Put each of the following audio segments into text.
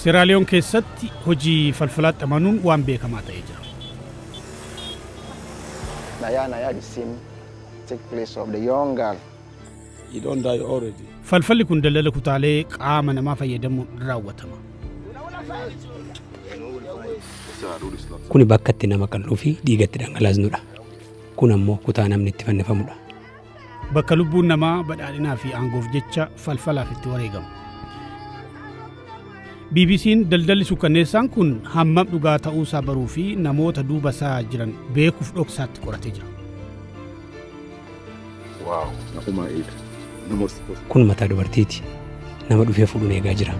Seraaliyoon keessatti hojii falfalaatti amanuun waan beekamaa ta'ee jira. Naya Naya the scene take place of the young girl. You don't die already. Falfalli kun daldala kutaalee qaama namaa fayyadamuun raawwatama. Kuni bakka itti nama qal'uu fi dhiiga itti dhangalaasnudha. Kun ammoo kutaa namni itti fannifamudha. Bakka lubbuun namaa badhaadhinaa fi aangoof jecha falfalaaf itti wareegamu. BBC'n daldalli sukkanneessaan kun hammam dhugaa ta'uusaa baruu fi namoota duuba isaa jiran beekuuf dhoksaatti qoratee jira. Waaw, nafumaa eega. Nama Kun mataa dubartiiti. Nama dhufee fuudhuun eegaa jira.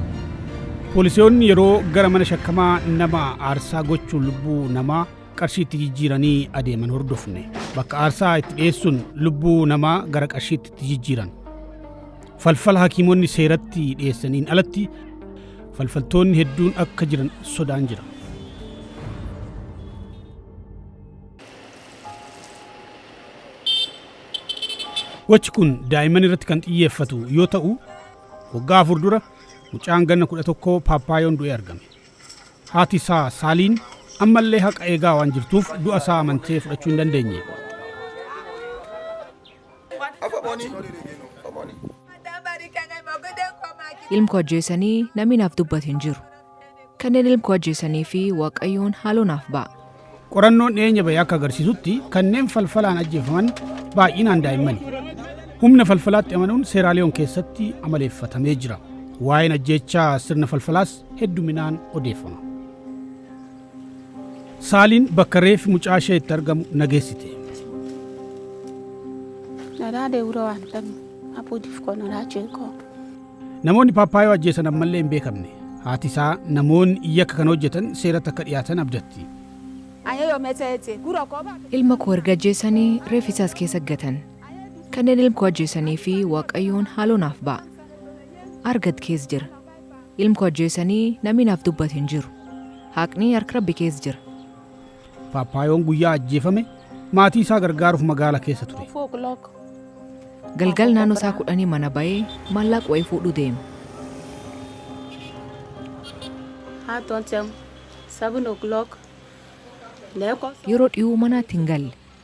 Poolisoonni yeroo gara mana shakkamaa nama aarsaa gochuun lubbuu namaa qarshiitti jijjiiranii adeeman hordofne bakka aarsaa itti dhiyeessuun lubbuu namaa gara qarshiitti itti jijjiiran falfala hakiimonni seeratti dhiyeessaniin alatti falfaltoonni hedduun akka jiran sodaan jira. Gochi kun daa'imman irratti kan xiyyeeffatu yoo ta'u waggaa afur dura mucaan ganna kudha tokko paappaayoon du'ee argame. Haati isaa Saaliin ammallee haqa eegaa waan jirtuuf du'a isaa amantee fudhachuu hin dandeenye. Ilmko ajjeesanii namni naaf dubbate hin jiru. Kanneen ilmko ajjeesanii fi Waaqayyoon haaloo naaf ba'a. Qorannoon dhiyeenya bahe akka agarsiisutti kanneen falfalaan ajjeefaman baay'inaan daa'immani. Humna falfalaatti amanuun Seeraaliyoon keessatti amaleeffatamee jira. Waa'een ajjeechaa sirna falfalaas hedduminaan odeeffama. Saaliin bakka reefi mucaa ishee itti argamu nageessite. Nalaa deewura waan qabnu abuudif koo nalaa jeekoo. Namoonni Paappaayoo ajjeesan ammallee hin beekamne. Haati isaa namoonni yakka kana hojjetan seeratti akka dhiyaatan abdatti. Ilma koo erga ajjeesanii reeffi isaa as keessa gatan. Kanneen ilm koo ajjeesanii fi Waaqayyoon haaloo naaf ba'a. Argad kees jira. Ilm koo ajjeesanii namni naaf dubbate hin jiru. Haaqni hark Rabbi kees jira. Paappaayoon guyyaa ajjeefame maatii isaa gargaaruuf magaala keessa ture. Galgal naannoo isaa kudhanii mana ba'ee maallaaq wa'ee fuudhuu deema. Yeroo dhiyuu manaatti hin galle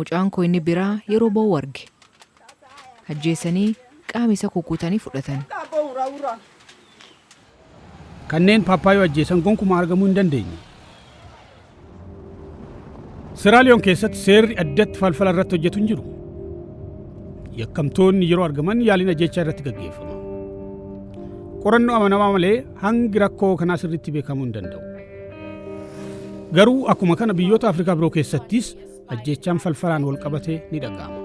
Mucaan koo inni biraa yeroo ba'u arge. Ajjeesanii qaama isa kukkutanii fudhatan. Kanneen Paappaayoo ajjeesan gonkumaa argamuu hin dandeenye. Siraaliyoon keessatti seerri addatti falfala irratti hojjetu hin jiru. Yakkamtoonni yeroo argaman yaaliin ajjechaa irratti gaggeeffama. Qorannoo amanamaa malee hangi rakkoo kanaa sirriitti beekamuu hin danda'u. Garuu akkuma kana biyyoota Afrikaa biroo keessattis ajjeechaan falfalaan wal qabatee ni dhaga'ama.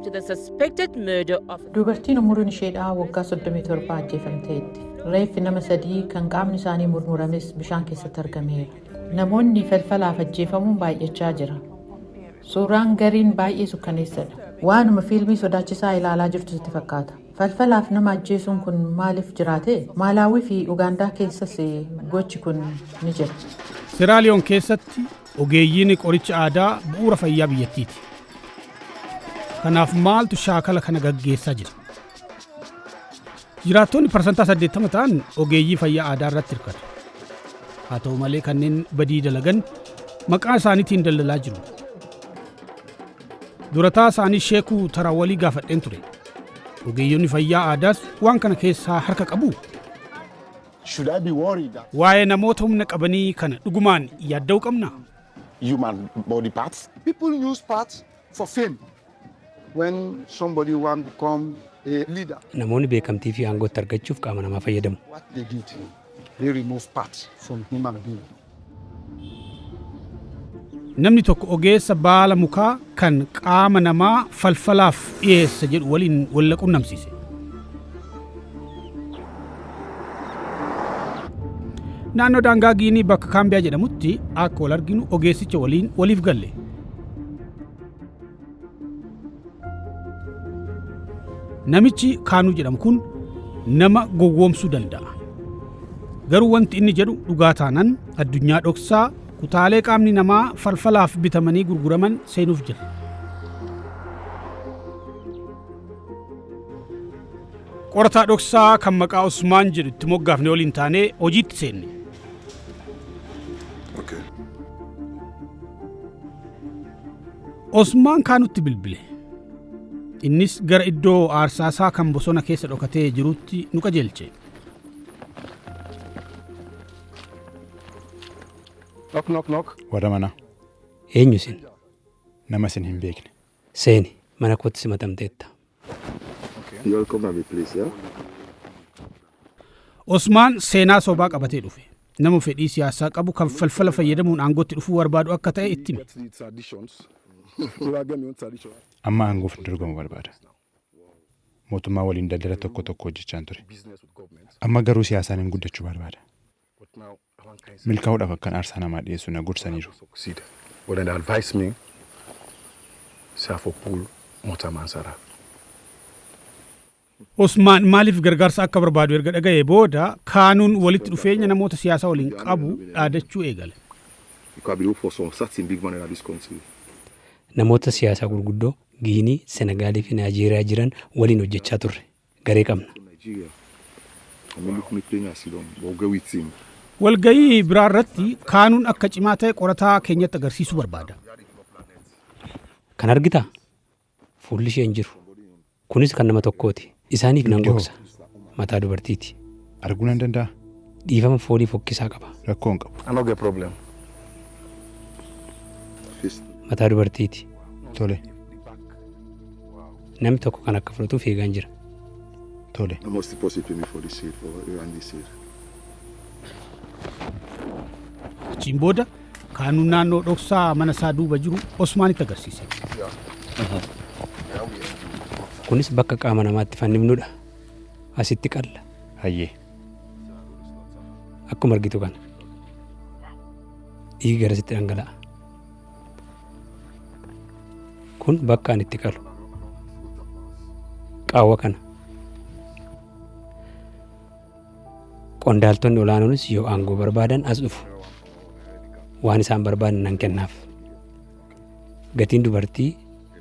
to the suspected murder of Dubartiin umuriin isheedhaa waggaa 37 ajjeefamteetti. Reeffi nama sadii kan qaamni isaanii murmurames bishaan keessatti argameera. Namoonni falfalaaf ajjeefamuun baay'achaa jira. Suuraan gariin baay'ee sukkaneessadha. Waanuma fiilmii sodaachisaa ilaalaa jirtu sitti fakkaata. Falfalaaf nama ajjeesuun kun maaliif jiraate? Maalaawwii fi Ugaandaa keessas gochi kun ni jira. Seraaliyoon keessatti ogeeyyiin qoricha aadaa bu'uura fayyaa biyyattiiti. Kanaaf maaltu shaakala kana gaggeessaa jira? Jiraattoonni parsantaa 80 ta'an ogeeyyii fayyaa aadaa irratti hirkatu. Haa ta'u malee kanneen badii dalagan maqaa isaaniitiin daldalaa jiru. Durataa isaanii Sheekuu Tarawalii gaafadheen ture. Ogeeyyonni fayyaa aadaas waan kana keessaa harka qabuu? Should I be worried that Waa'ee namoota humna qabanii kana dhugumaan yaadda'uu qabnaa? human body parts? People use parts for fame when somebody want become a leader. Namoonni beekamtii fi aangootti argachuuf qaama namaa fayyadamu. What they did, they remove parts from human being. Namni tokko ogeessa baala mukaa kan qaama namaa falfalaaf dhiyeessa jedhu waliin wal na qunnamsiise. Naannoo daangaa Giinii bakka Kaambiyaa jedhamutti akka wal arginu ogeessicha waliin waliif galle. Namichi kaanuu jedhamu kun nama gowwoomsuu danda'a. Garuu wanti inni jedhu dhugaa taanan addunyaa dhoksaa kutaalee qaamni namaa falfalaaf bitamanii gurguraman seenuuf jira. Qorataa dhoksaa kan maqaa Usmaan jedhu itti moggaafne waliin taanee hojiitti seenne. Osmaan kaanutti bilbile. Innis gara iddoo aarsaasaa kan bosona keessa dhokatee jirutti nu qajeelche. Nok nok nok. Warra manaa. Eenyu isin? Nama isin hin beekne. Seeni, mana kootti simatamteetta. Osmaan seenaa sobaa qabatee dhufe. Nama fedhii siyaasaa qabu kan falfala fayyadamuun aangootti dhufuu barbaadu akka ta'e itti hime. Amma aangoof hin dorgomu barbaada. Mootummaa waliin daldala tokko tokko hojjechaan ture. Amma garuu siyaasaan guddachuu barbaada. Milkaa'uudhaaf akkan aarsaa namaa dhiyeessu na gorsaniiru. Osmaan maaliif gargaarsa akka barbaadu erga dhaga'ee booda, Kaanuun walitti dhufeenya namoota siyaasaa waliin qabu dhaadachuu eegale. Namoota siyaasaa gurguddoo Giinii, Senegaalii fi Naayijeeriyaa jiran waliin hojjechaa turre. garee qabna. Walgahii biraa irratti Kaanuun akka cimaa ta'e qorataa keenyatti agarsiisuu barbaada. Kan argitaa? Fuulli ishee hin jiru. Kunis kan nama tokkooti. Isaaniif nan gogsa. Mataa dubartiiti. Arguu nan danda'a? Dhiifama foolii fokkisaa qaba. Rakkoo hin qabu. I no get problem. Fist. Mataa dubartiiti. Tole. Namni tokko kan akka fudhatuuf eegaan jira. Tole. How much deposit you pay me for this seed for you and this seed? Achiin booda kaanuu naannoo dhoksaa mana isaa duuba jiru Osmaanitti agarsiise. Kunis bakka qaama namaatti fannifnudha. asitti qalla hayyee akkuma argitu kana dhiigi gara sitti dhangala'a kun bakka ani itti qalu qaawwa kana qondaaltonni olaanoonis yoo aangoo barbaadan as dhufu waan isaan barbaadan nan kennaaf gatiin dubartii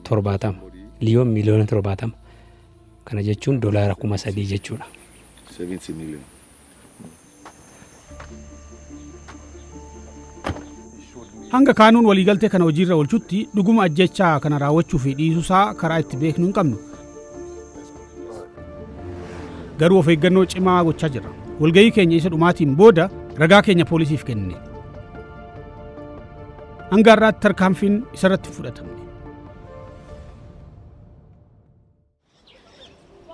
torbaatama liyoon miliyoona torbaatama Kana jechuun dolaara kuma sadii jechuudha. 70 million. Hanga kaanuun waliigaltee kana hojiirra oolchutti dhuguma ajjechaa kana raawwachuu fi dhiisuusaa karaa itti beeknu hin qabnu. Garuu of eeggannoo cimaa gochaa jirra. Walgahii keenya isa dhumaatiin booda ragaa keenya poolisiif kenne. Hanga har'aatti tarkaanfiin isarratti hin fudhatamne.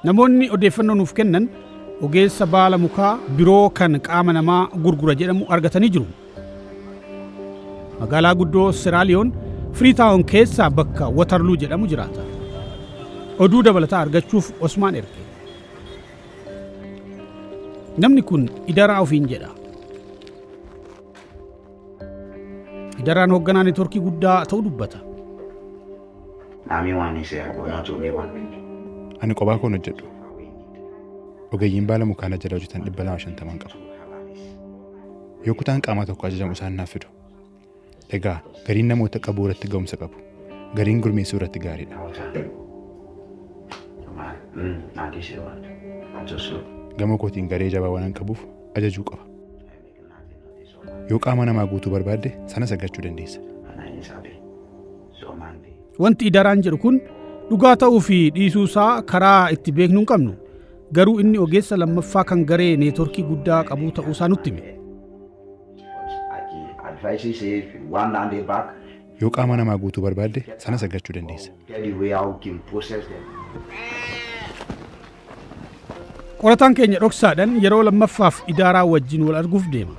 Namoonni odeeffannoo nuuf kennan ogeessa baala mukaa biroo kan qaama namaa gurgura jedhamu argatanii jiru. Magaalaa guddoo Seraaliyoon Firiitaawon keessaa bakka Watarluu jedhamu jiraata. Oduu dabalataa argachuuf Osmaan erge. Namni kun idaraa ofiin jedha. Idaraan hoogganaa networkii guddaa ta'uu dubbata. Naamii waan isee arguu naa tuumii waan. Ani qobaa koon hojjedhu. Ogeeyyiin baala mukaa na jala hojjetan dhibba lama shantaman qaba. Yoo kutaan qaamaa tokko ajajamu isaan naaf fidu. Egaa gariin namoota qabuu irratti ga'umsa qabu. Gariin gurmeessuu irratti gaariidha. Gama kootiin garee jabaa waan qabuuf ajajuu qaba. Yoo qaama namaa guutuu barbaadde sanas argachuu dandeessa. Wanti idaraan jedhu kun dhugaa ta'uu fi dhiisuu isaa karaa itti beeknu hin qabnu. Garuu inni ogeessa lammaffaa kan garee neetworkii guddaa qabuu ta'uu isaa nutti hime. Yoo qaama namaa guutuu barbaadde sanas argachuu dandeessa. Qorataan keenya dhoksaadhan yeroo lammaffaaf idaaraa wajjin wal arguuf deema.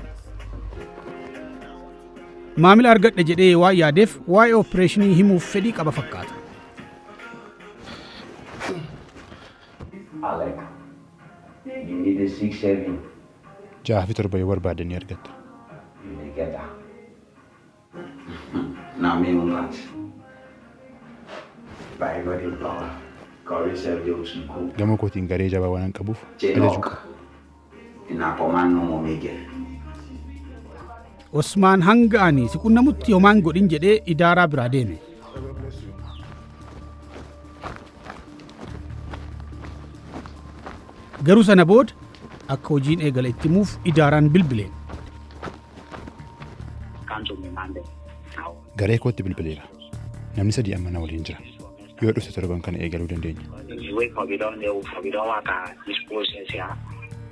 Maamila argadhe jedhee waan yaadeef waa'ee opereeshinii himuuf fedhii qaba fakkaata. Ja'a fi torba yoo barbaadde ni argatta. Naamni Mumbaat. By body of power. Kawee Sergio Usnku. Gama kootiin garee jabaa waanan qabuuf ajajuu Jenok. qaba. Inapoman Nomo Miguel. Osmaan hanga ani si qunnamutti homaan godhin jedhee idaaraa biraa deeme. Garuu sana booda akka hojiin eegale itti himuuf idaaraan bilbileen. Garee kootti bilbileera. Namni sadii amma na waliin jira. Yoo dhufte torban kana eegaluu dandeenya.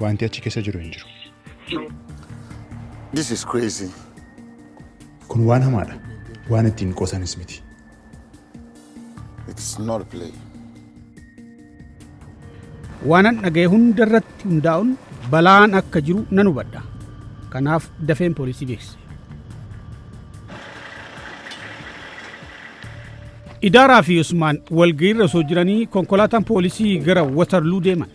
Wanti achi keessa jiru hin jiru. This is crazy. Kun waan hamaadha. Waan ittiin qoosanis miti. It's not a play. Waanan dhaga'e hunda irratti hundaa'uun balaan akka jiru nan hubadha. Kanaaf dafeen poolisii beeksise. Idaaraa fi Usmaan walga'iirra osoo jiranii konkolaataan poolisii gara Watarluu deeman.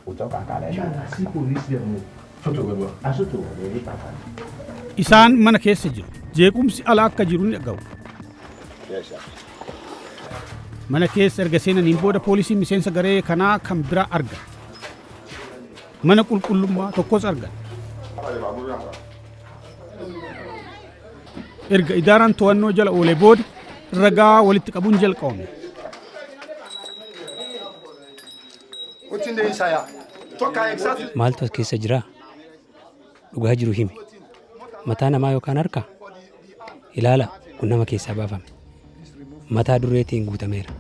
Ucok akaa lay shan. Nana si police demo futu gadu asutu wali afan. Isaan mana keessa jiru. Jeequmsi ala akka jiru ni dhaga'u. Mana keessa erga seenaniin booda poolisiin miseensa garee kanaa kan biraa argan. Mana qulqullummaa tokkos argan. Erga idaaraan to'annoo jala oolee booda ragaa walitti qabuun jalqabame. What's in the inside? Talk her exactly. Maaltu as keessa jira? Dhugaa jiru himi. Mataa namaa yookaan harka? Ilaala, kun nama keessaa baafame. Mataa dureetiin guutameera.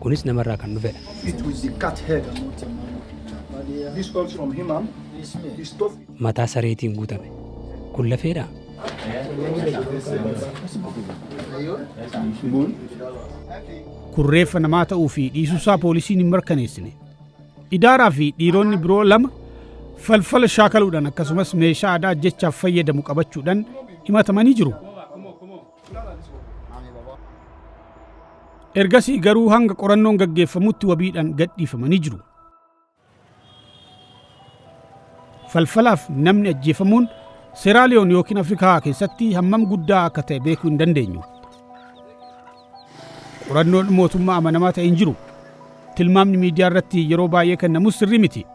Kunis namarraa kan dhufedha. It was the cat head. This comes from him, ma'am. It's tough. Mataa sareetiin guutame. Kun lafeedha. Moon. Kun reeffa namaa ta'uu fi dhiisuusaa poolisiin hin mirkaneessine. Idaaraa fi dhiironni biroo lama falfala shaakaluudhaan akkasumas meeshaa aadaa ajjechaaf fayyadamu qabachuudhaan himatamanii jiru. Ergasii garuu hanga qorannoon gaggeeffamutti wabiidhaan gadhiifamanii jiru. Falfalaaf namni ajjeefamuun Seeraaliyoon yookiin Afrikaa keessatti hammam guddaa akka ta'e beekuu hin dandeenyu. Qorannoon mootummaa amanamaa ta'e hin jiru. Tilmaamni miidiyaa irratti yeroo baay'ee kennamus sirrii miti.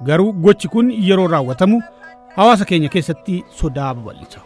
Garuu gochi kun yeroo raawwatamu hawaasa keenya keessatti sodaa babal'isa.